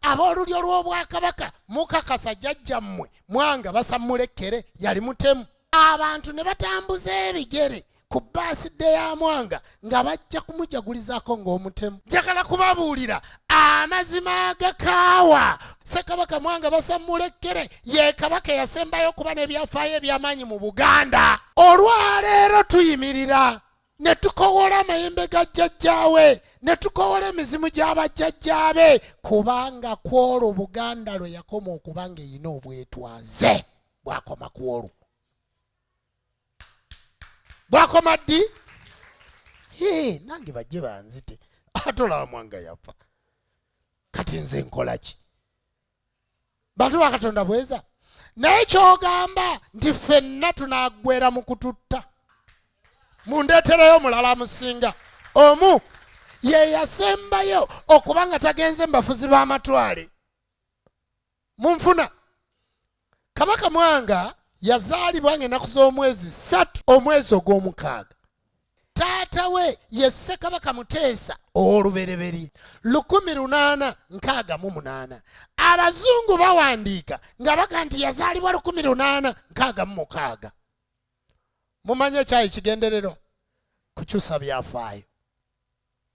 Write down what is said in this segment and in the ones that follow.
ab'olulyo lw'obwakabaka mukakasa jajja mmwe mwanga basammula ekkere yali mutemu abantu ne batambuza ebigere ku baaside ya mwanga nga bajja kumujagulizaako ng'omutemu njagala kubabuulira amazima agakaawa ssekabaka mwanga basammula ekkere ye kabaka eyasembayo okuba n'ebyafaayo eby'amaanyi mu buganda olwaleero tuyimirira ne tukowoola amayembe ga jjajjaawe ne tukowoola emizimu gy'abajjajjaabe kubanga ku olwo buganda lwe yakoma okuba nga erina obwetwaze bwakoma ku olwo bwakoma ddi nange bajje banzite atolaba mwanga yafa kati nze nkola ki bantu bakatonda bweza naye kyogamba nti fenna tunagwera mu kututta mundetereyo mulala musinga omu yeyasembayo okuba nga tagenze mubafuzi b'amatwale munfuna kabaka mwanga yazaalibwa nga enaku z'omwezi satu omwezi ogw'omukaaga taata we ye ssekabaka muteesa ow'olubereberye lukumi lunaana nkaaga mu munaana abazungu bawandiika nga baga nti yazaalibwa lukumi lunaana nkaaga mu mukaaga mumanye ekyayi kigendererwa kukyusa byafaayo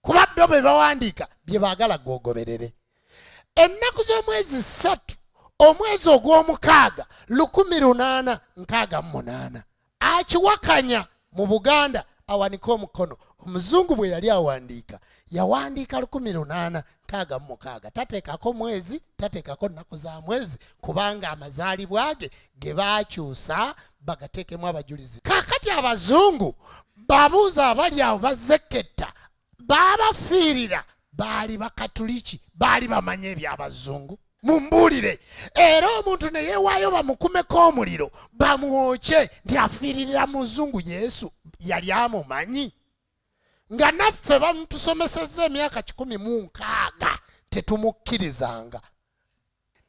kuba bbo be bawandiika bye baagala gwogoberere ennaku z'omwezi ssatu omwezi ogw'omukaaga lukumi lunaana nkaaga mu munaana akiwakanya mu buganda awanika omukono omuzungu bwe yali awandiika yawandiika lukumi lunaana nkaaga mu mukaaga tateekako mwezi tateekako nnaku za mwezi kubanga amazaalibwa ge ge baakyusa bagateekemu abajulizi kaakati abazungu babuuza abali awo bazekketta baabafiirira baali bakatuliki baali bamanya ebyabazungu mumbuulire era omuntu ne yeewaayo bamukumeko omuliro bamwokye nti afiiririra muzungu yesu yali amumanyi nga naffe bamutusomesezza emyaka kikumi mu nkaaga tetumukkirizanga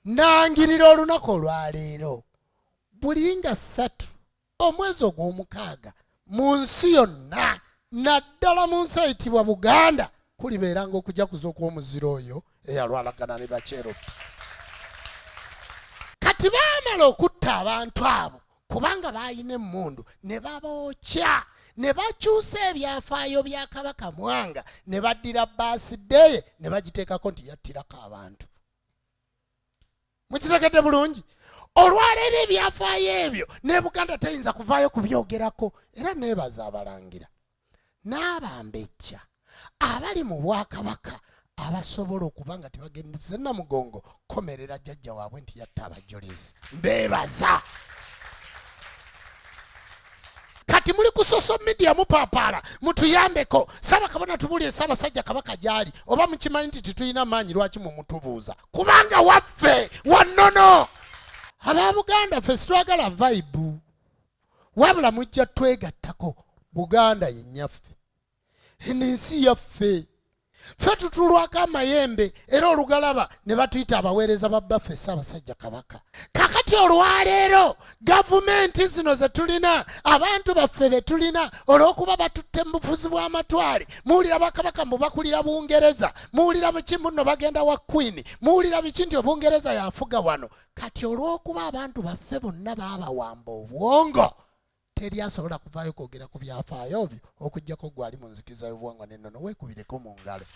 nangirira olunaku olwaleero buli nga ssatu omwezi ogw'omukaaga mu nsi yonna naddala mu nsi eyitibwa buganda kulibeeranga okujakuza okw'omuziro oyo eyalwalagana ne bakyerobi kati baamala okutta abantu abo kubanga baalina emmundu ne babookya ne bakyusa ebyafaayo bya kabaka mwanga ne baddira baasideeye ne bagiteekako nti yattirako abantu mukitegedde bulungi olwaleero ebyafaayo ebyo ne buganda teyinza kuvaayo kubyogerako era neebaza abalangira n'abambejja abali mu bwakabaka abasobola okuba nga tebagendeze namugongo komerera jjajja waabwe nti yatta abajulizi mbeebaza kati muli ku social media mupapaala mutuyambeko saba kabona tubuulire ssaabasajja kabaka gyali oba mukimanyi nti titulina maanyi lwaki mumutubuuza kubanga waffe wannono aba buganda ffe sitwagala vaibu wabula mujja twegattako buganda yenyaffe eno ensi yaffe ffe tutulwako amayembe era olugalaba ne batuyita abaweereza ba bbaffe ssaabasajja kabaka kakati olwaleero gavumenti zino ze tulina abantu baffe be tulina olw'okuba batutte mu bufuzi bw'amatwale muwulira bakabaka mbu bakulira bungereza muwulira biki mbuno bagenda wa kwini muwulira biki nti obungereza yafuga wano kati olw'okuba abantu baffe bonna baabawamba obwongo teri asobola kuvaayo kwogera ku byafaayo byo okugyako gwali mu nzikiza y'obwongo n'ennono weekubireko mu ngalo